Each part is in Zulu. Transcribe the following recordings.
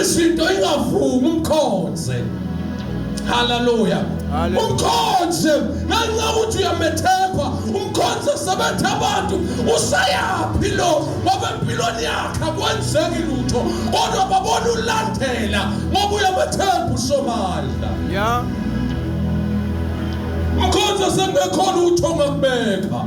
izinto ingavumi umkhonze haleluya umkhonze ngenxa ukuthi uyamethemba umkhonze sebethe abantu useyaphi lo ngoba empilweni yakhe akwenzeki lutho kodwa babona ulandela ngoba uyamethemba usomandla ya umkhonze sekubekhona utho ngakubeka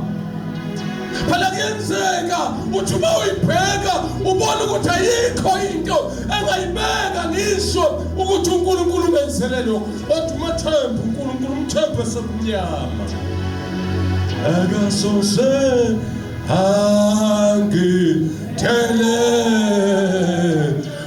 phela kuyenzeka uthi uma uyibheka ubone ukuthi ayikho into engayibeka ngisho ukuthi unkulunkulu umenzele lokho kodwa umathembe unkulunkulu umthembe sekumnyama akasoze angithele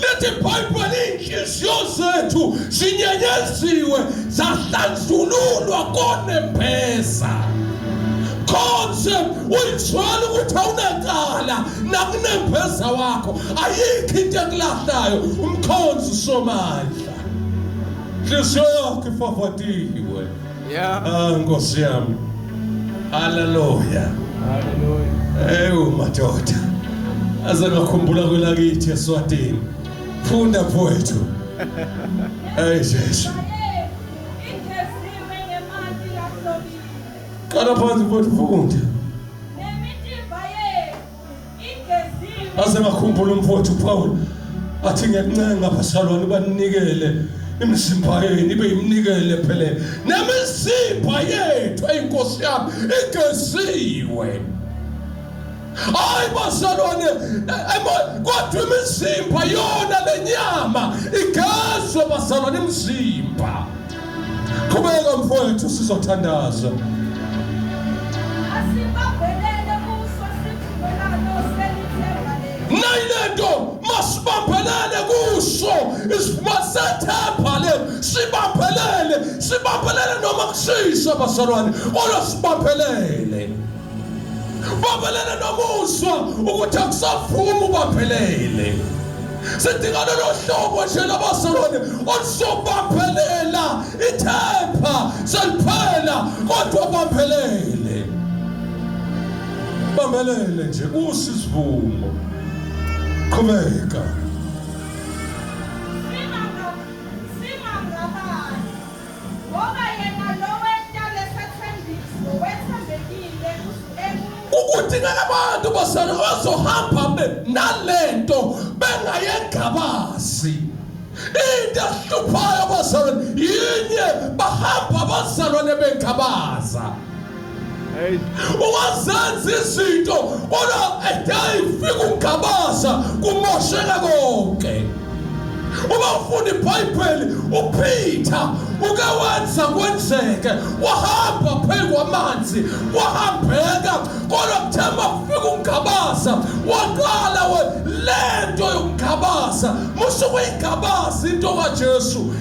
lithi ibhayibheli iy'nhliziyo zethu zinyenyeziwe zahlanjululwa konembeza konse uyithola ukuthi awunecala nakunembeza wakho ayikho into ekulahlayo umkhonzi somandla nhliziyo yakho ifavadiwe Yeah. Ah Nkosi yami. Hallelujah. Hallelujah. Ewu madoda. Aze ngakhumbula kwelakithi eSwatini. Funda mfowethu. Hey Jesu. Qala phansi mfowethu funda. Nemitimba yethu. aze ngakhumbula umfowethu Paul athi ngiyakuncenga basalwane banikele imizimba yenu ibe yimnikele phele nemizimba yethu eyinkosi yami igeziwe hayi basalwane kodwa imizimba yona lenyama igezwe basalwane imizimba Qhubeka mfowethu sizothandaza. nayilento masibambelele kuso masethemba le sibambelele sibambelele noma kushisa bazalwane kodwa sibambelele babelele nomuzwa ukuthi akusavumi ubaphelele sidinga lolo hlobo nje labasolwane oluzobaphelela ithepha seliphela kodwa baphelele bamelele nje kusi isivumo qhubeka kudingeka abantu basana bazohamba nalento bengayengabazi into ehluphayo bazalwane yinye bahamba abazalwane bengabaza uwazenza izinto kodwa edayi fika ugabaza kumosheka konke uma ufunda ibhayibheli uphitha uke wenza kwenzeke wahamba phezu kwamanzi wahambeka kodwa kuthe mafika ungabaza waqala we le nto yokungabaza musuke uyingabaza into kajesu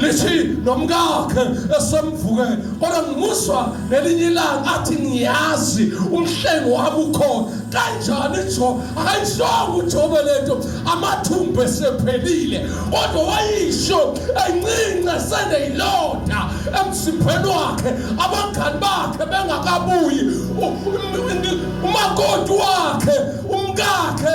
lithi nomkakhe esemvuke kodwa ngimuzwa ngelinye ilanga athi ngiyazi umhlengo wami ukhona kanjani jo akayishongo ujobe lento amathumbu esephelile kodwa wayisho encince seneyilonda emsipheni wakhe abangani bakhe bengakabuyi umakoti wakhe umkakhe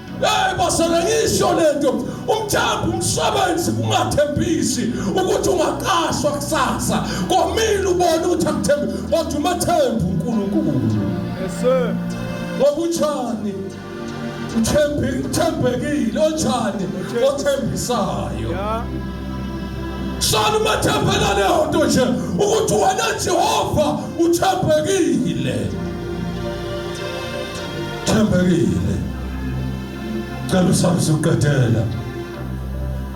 Hey basana ngisho lento umthambo umsebenzi kungathembisi ukuthi ungaqashwa kusasa komile ubona ukuthi akuthembi kodwa umathembu uNkulunkulu yes sir ngokutshani uthembi uthembekile otshani othembisayo yeah Shana umathembela leyo nto nje ukuthi wena Jehova uthembekile Thembekile. Cela usabe suqedela.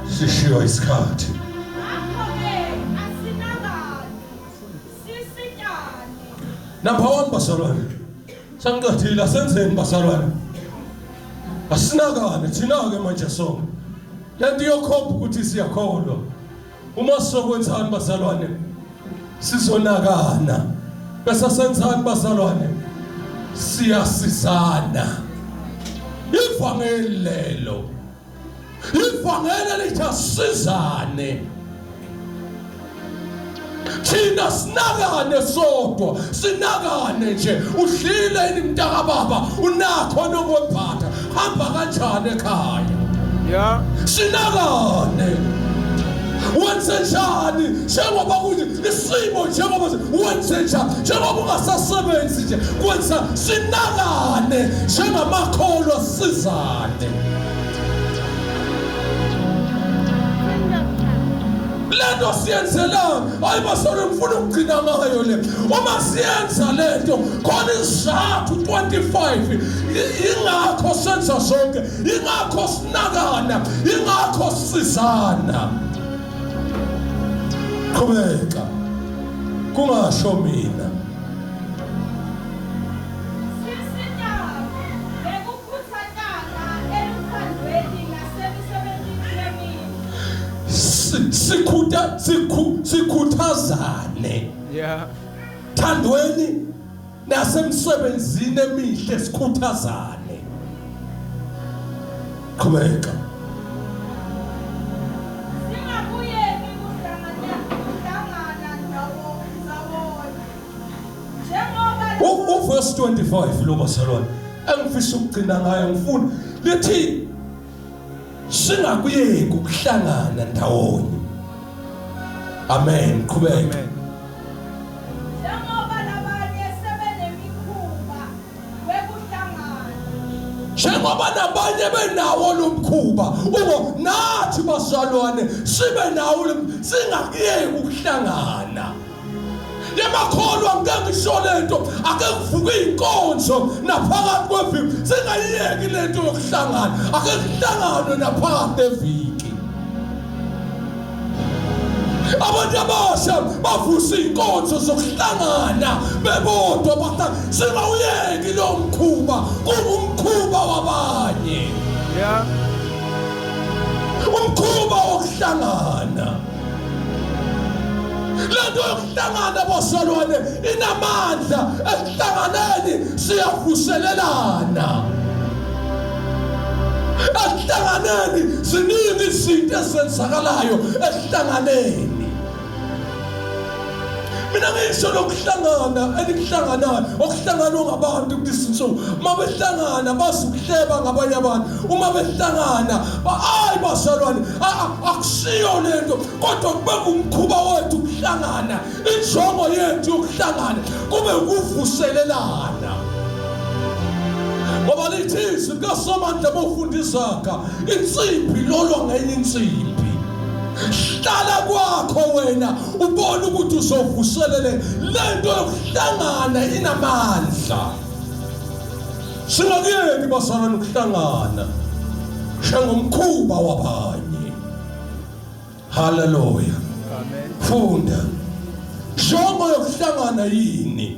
Sishiywa isikhathi. Number 1 basalwane. Sangiqedile asenzeni basalwane. Asinakane thina ke manje so. Lento iyokhomba ukuthi siyakholwa. Uma sizokwenzani bazalwane? Sizonakana. Bese senzani bazalwane? Siyasizana. Ivangeli lelo. Ivangeli lithi asizane. thina sinakane sodwa sinakane nje udlile yini mntaka baba unakho nokwephatha hamba kanjani ekhaya ya sinakane wenze njani njengoba kuthi isimo njengoba wenze njani njengoba ungasasebenzi nje kwenza sinakane njengamakholwa sizane lento siyenzelanga hayi basore ngifuna ukugcina ngayo le uma siyenza lento khona isizathu 25 ingakho senza zonke ingakho sinakana ingakho sisizana qhubeka kungasho mina sikhuthazane yeah thandweni nasemsebenzini emihle sikhuthazane qhubeka uverse 25 lo bazalwane engifisa ukugcina ngayo ngifuna lithi singakuyeki ukuhlangana ndawonye amen qhubeka njengoba nabanye benawo lo mkhuba ubo nathi basalwane sibe nawo singakuyeki ukuhlangana lemakholwa ngeke ngisho lento ake kuvuke inkonzo naphakathi kweviki singayiyeki lento yokuhlangana ake kuhlanganwe naphakathi eviki abantu abasha bavusa inkonzo zokuhlangana bebodwa batha singawuyeki lo mkhuba kungumkhuba wabanye yeah umkhuba wokuhlangana lento yokuhlangana bosalwane inamandla ekuhlanganeni siyavuselelana ekuhlanganeni ziningi izinto ezenzakalayo ekuhlanganeni mina ngisho lokuhlangana enikuhlanganayo okuhlanganwa ngabantu kulezi nsuku uma behlangana bazi ukuhleba ngabanye abantu uma behlangana hayi bazalwane akusiyo le nto kodwa kube kumkhuba wethu ukuhlangana injongo yethu yokuhlangana kube ukuvuselelana ngoba lithi izwi likasomandla bofunda izaga insimbi lolwa ngenye insimbi hlala kwakho wena ubona ukuthi uzovuselele lento yokuhlangana inamandla singakuyeki basana nokuhlangana shengomkhuba wabanye haleluya amen funda jongo yokuhlangana yini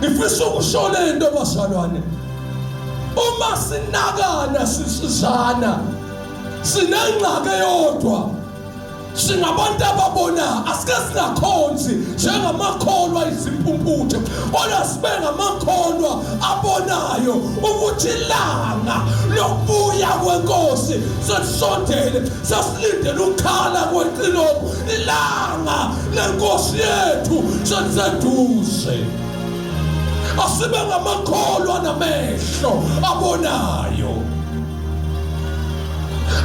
Ngifisa ukusho le nto bazalwane. Uma sinakana sisizana sinengxaki eyodwa singabantu ababona asike singakhonzi njengamakholwa izimpumputhe kodwa sibe ngamakholwa abonayo ukuthi ilanga lokubuya kwenkosi selisondele sasilindele ukukhala kweqilongo ilanga lenkosi yethu seliseduze asibe ngamakholwa namehlo abonayo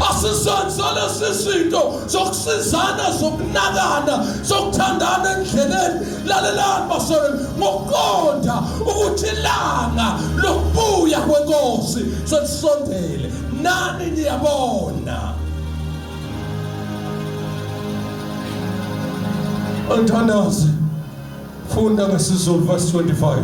asizenzele sizinto zokusizana zokunakana zokuthandana endleleni lalelani basolweni ngokuqonda ukuthi ilanga lokubuya kwenkosi selisondele nani niyabona Mthandazi funda ngesiZulu verse 25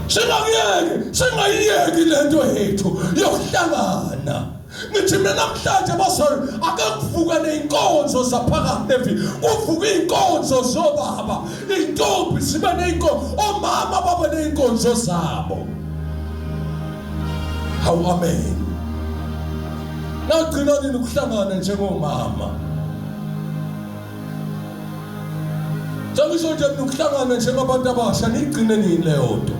Singayeki singayiyeki lento yethu yokuhlangana ngithi mina namhlanje bazali ake kuvuke ney'nkonzo zaphakathi evi kuvuke iy'nkonzo zobaba iy'ntombi zibe ney'nkonzo omama babe ney'nkonzo zabo hawu amen nagcina nini ukuhlangana njengomama Njengisho nje nokuhlangana njengabantu abasha nigcine nini leyo nto.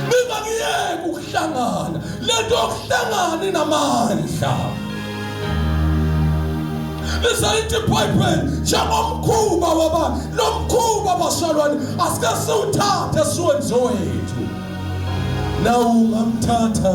Ningakuyeki ukuhlangana. Lento yokuhlangana inamandla. Lisalithi Bible njengomkhuba waba lomkhuba basalwane asike siwuthathe siwenze wethu. Nawu ngamthatha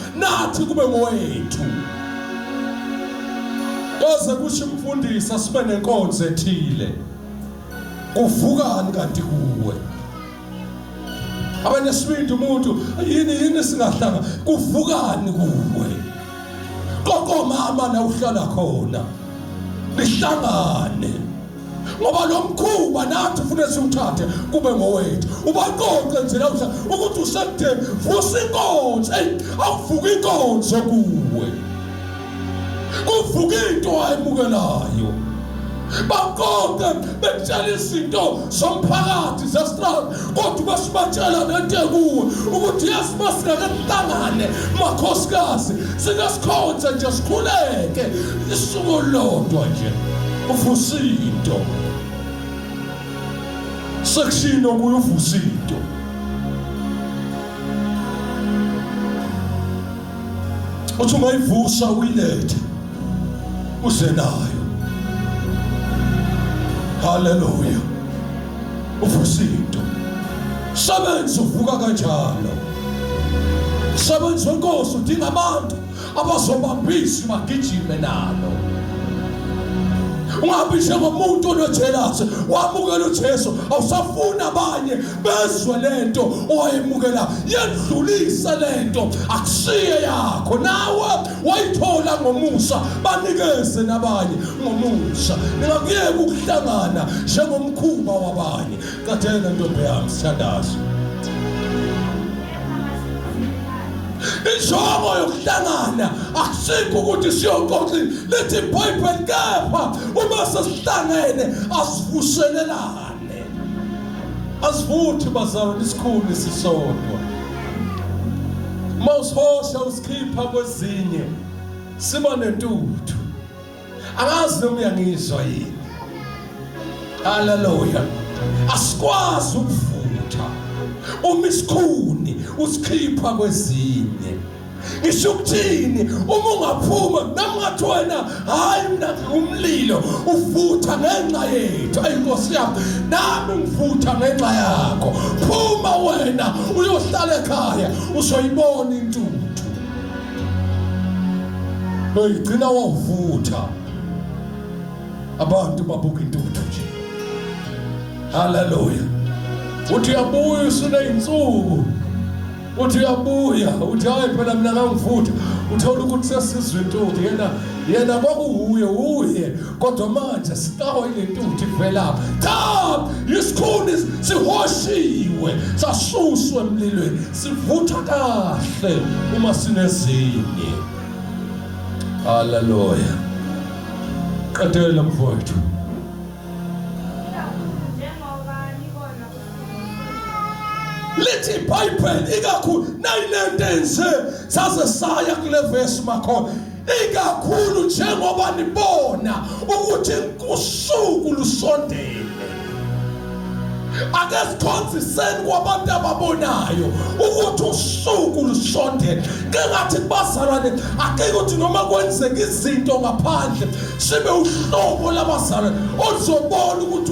nathi kube ngowethu koze kusho umfundisi asibe nenkonzo ethile kuvukani kanti kuwe abanye sibindi umuntu yini yini singahlanga kuvukani kuwe kokomama na uhlala khona nihlangane ngoba lo mkhuba nathi ufune siwuthathe kube ngowethu ubaqoqe nje lawusa ukuthi usekudeni vusa inkonzo eyi awuvuka inkonzo kuwe kuvuka into ayimukelayo baqoqe bekutshela izinto zomphakathi zestrada kodwa uma sibatshela lento ekuwe ukuthi yazi uma singake sihlangane makhosikazi sike sikhonze nje sikhuleke isuku olulodwa nje uvusa into sekushino kuye uvusa into uthi ungayivusa uyilethe uze nayo haleluya uvusinto sebenzi uvuka kanjalo sebenzi wenkosi udinga abantu abazobambisa bagijime nalo ungabi njengomuntu onojelasi wamukela ujesu awusafuni abanye bezwe le nto owayemukela yendlulise le nto akusiye yakho nawe wayithola ngomusa banikeze nabanye ngomusa ningakuyeka ukuhlangana njengomkhuba wabanye kathena ntombi yami sithandazo injongo yokuhlangana akusikho ukuthi siyoxoxi lithi ibhayibheli kepha uma sesihlangene asivuselelani asivuthi bazalwane isikhulu isisodwa uma usihosha usikhipha kwezinye siba nentuthu angazi noma uyangizwa yini haleluya asikwazi ukuvutha uma isikhuni usikhipha kwezinye ngisho ukuthini uma ungaphuma noma ungathi wena hhayi mina ngingumlilo ufutha ngenxa yethu ayi nkosi yami nami ngifutha ngenxa yakho phuma wena uyohlala ekhaya uzoyibona intuthu noyigcina wavutha abantu babuka intuthu nje haleluya uthi uyabuya usuney'nsuku uthi uyabuya uthi hayi phela mina kangifuthi uthola ukuthi sesizwe intuthi yena yena kwakuwuye uye kodwa manje sitawa ile ntuthi velapha cha isikhuni sihoshiwe sasuswe emlilweni sivutha kahle uma sinezinye haleluya qedela mfowethu njengoba nibona lithi ibhayibheli ikakhulu nayinento enje saze saya kule vesi makhona ikakhulu njengoba nibona ukuthi usuku lusondele ake sikhonziseni kwabantu ababonayo ukuthi usuku lusondele kengathi kubazalwane ake ukuthi noma kwenzeka izinto ngaphandle sibe uhlobo labazalwane oluzobona ukuthi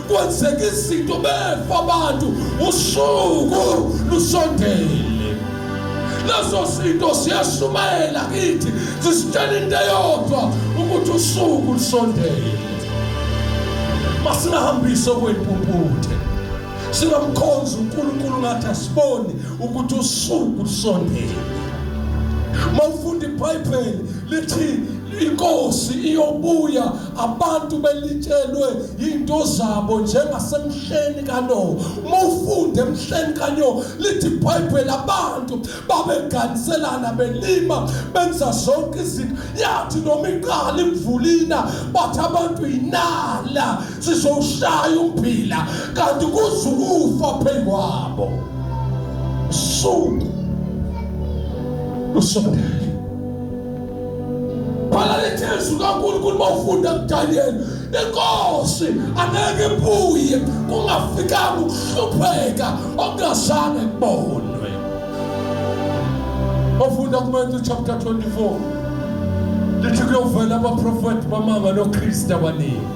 kwenzeka izinto befa abantu usuku lusondele lezo zinto siyashumayela kithi zisitshela into eyodwa ukuthi usuku lusondele masingahambise okwempumputhe singamkhonza uNkulunkulu ngathi asiboni ukuthi usuku lusondele mawufunda iBhayibheli lithi inkosi iyobuya abantu belitshelwe into zabo njengasemhleni kano mufunde emhleni kanyo lithi ibhayibheli abantu babeganiselana belima benza zonke izinto yathi noma iqala imvulina bathi abantu yinala sizowushaya umphila kanti kuze ukufa phezu kwabo suku lusondele bhala lethezwi kaNkulunkulu uma ufunda kuDaniyeli inkosi angeke ibuye kungafikanga ukuhlupheka okungazange kubonwe ofunda kuMatthew chapter 24 lithi kuyovela abaprofethi bamanga noKristu abaningi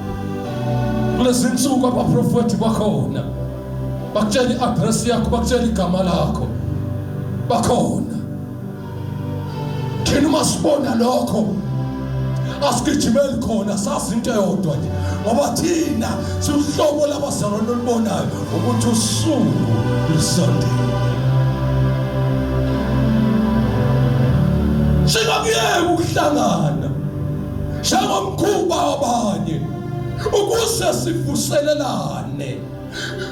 kulezi nsuku abaprofethi bakhona bakutshela i-address yakho bakutshela igama lakho bakhona thina uma sibona lokho asigijimeli khona sazi into eyodwa nje ngoba thina siwuhlobo labazalwane olubonayo ukuthi usuku lusondele singakuyeki ukuhlangana njengomkhuba wabanye ukuze sivuselelane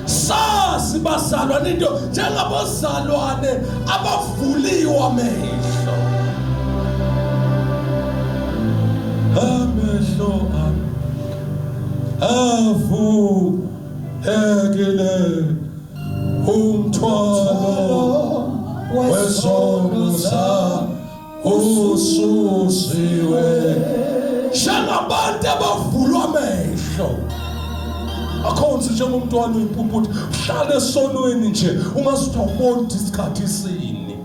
sazi bazalwane into njengabazalwane abavuliwe amehlo amehlo ami avulekile umthwalo wesono sami ususiwe njengabantu abavulwa amehlo akhonzi njengomntwana uyimpumputhi uhlale esonweni nje ungazi ukuthi awuboni ukuthi isikhathi isini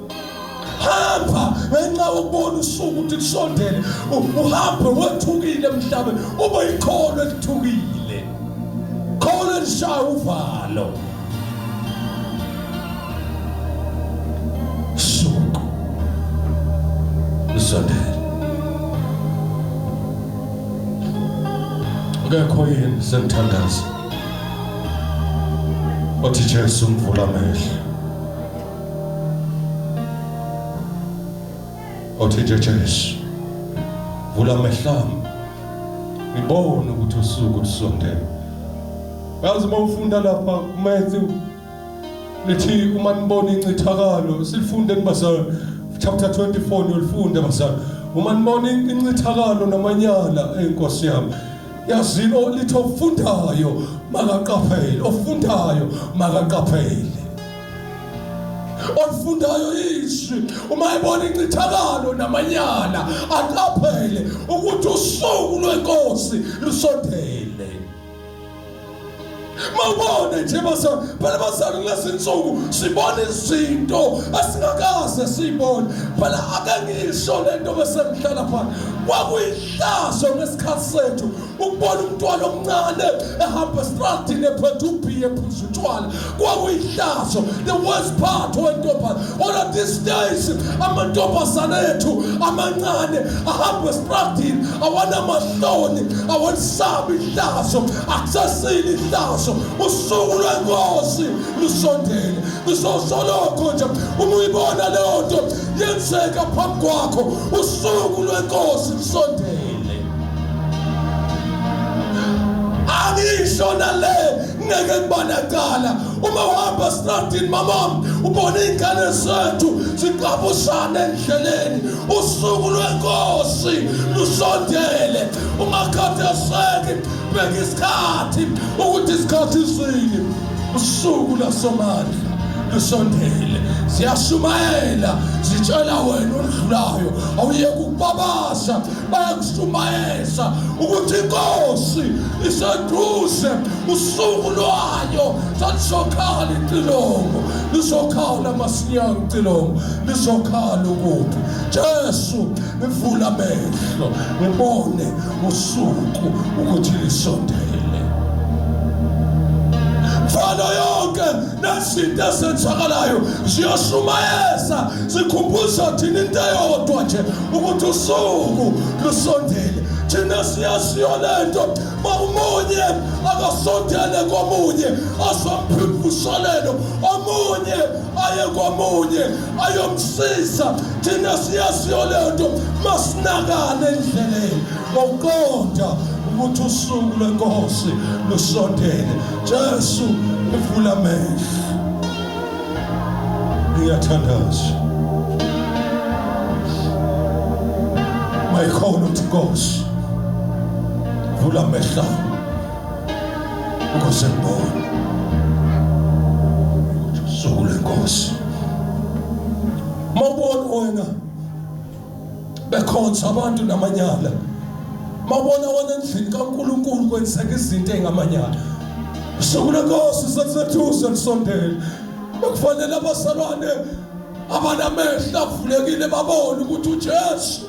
hamba ngenxa yokubona usuku ukuthi kusondele uhambe wethukile emhlabeni ube yikholo elithukile kholo elishaya uvalo Suku. Sondela. Ngekho yini senthandaza. Othi Jesu mvula amehlo. Othi Jesu vula amehlo ami. Ngibone ukuthi usuku lusondele. Yazi uma ufunda lapha kumenzi lithi uma nibona incithakalo silifunde nibazali chapter 24 niyolifunda bazali uma nibona incithakalo namanyala enkosi yami yazini olithi ofundayo makaqaphele ofundayo makaqaphele olifundayo izwi uma ebona incithakalo namanyala aqaphele ukuthi usuku lwenkosi lusondele mawubona nje bazali phela bazali kulezi nsuku sibona izinto asingakaze siyibone phela ake ngisho le nto besengihlala phana kwakuyihlazo ngesikhathi sethu ukubona umntwana omncane ehamba estradini ephethe ubhiye ephuza utshwala kwakuyihlazo the worst part wentombazane ona these days amantombazane ethu amancane ahamba esitradini awanamahloni awalisabi ihlazo akusasile ihlazo usuku lwenkosi lusondele ngizosolokho nje uma uyibona leyo nto yenzeka phambi kwakho usuku lwenkosi lusondele angisho nale ngeke ngibanecala uma uhamba stradini mamam ubona iy'ngane zethu ziqabushana endleleni usuku lwenkosi lusondele ungakhatheseki bheka isikhathi ukuthi isikhathi sini usuku lasomandla lusondele ziyashumayela zitshela wena oludlulayo awuyeke ukubabaza bayakushumayeza ukuthi inkosi iseduze usuku lwayo salisokhala icilongo lizokhala masinyane icilongo lizokhala ukuphi jesu ngivula amehlo ngibone usuku ukuthi lisondele mfana yonke nezinto ezenzakalayo ziyoshumayeza sikhumbuza thina into eyodwa nje ukuthi usuku lusondele thina siyaziyo le nto makumunye akasondele komunye asomphiphushalelo omunye aye komunye ayomsiza thina siyaziyo le nto masinakane endleleni ngokuqonda ukuthi usuku lwenkosi lusondele jesu ivula amehlo Ngiyathandaza. My call to God. Vula mehla. Ukuze ngibone. Sukule Nkosi. Mabona wena. bekhonza abantu namanyala mabona wona endlini kaNkuluNkulu kwenzeka izinto engamanyala sokule nkosi sekusethusa lisondele bekufanele abazalwane abanamehlo avulekile babone ukuthi uJesu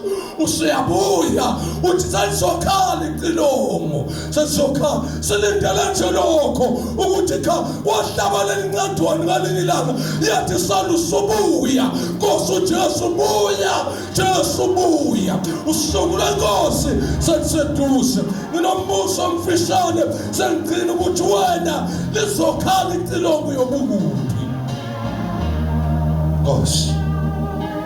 useyabuya uthi salizokhala icilongo sesokha silindele nje lokho ukuthi cha wahlabalela incadwane ngaleli langa yathi sala usubuya nkosi ujesu buya jesu buya usuku lenkosi seliseduze nginombuso omfishane sengigcina ukuthi wena lizokhala icilongo yobukuphi nkosi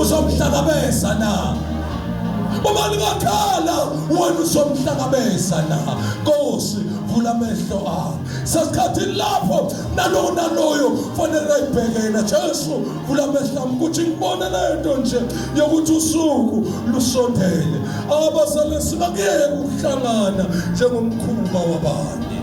uzomhlangabeza na uma lingakhala wena uzomhlangabeza na nkosi vula amehlo akho sesikhathini lapho nalowo naloyo fanele ayibheke yena jesu vula amehlo ami ukuthi ngibone le nto nje yokuthi usuku lusondele abazalesi bakuyeke ukuhlangana njengomkhuba wabantu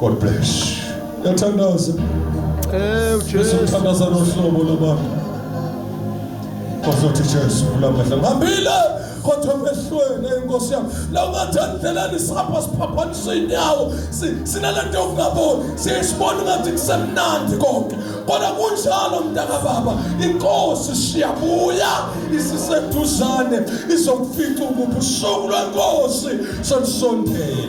God bless. Yathandaza. Eh uJesu. Yathandaza nohlobo labantu. Kwazothi Jesu ulamehla. Ngihambile kodwa mehlweni enkosi yami. La ungathandlelani sihamba siphaphanisa inyawo. Sinalento yokungaboni. Siyisibona ngathi kusemnandi konke. Kodwa kunjalo mntaka baba. Inkosi siyabuya isiseduzane izokufica ukubusuku lwenkosi solisondele.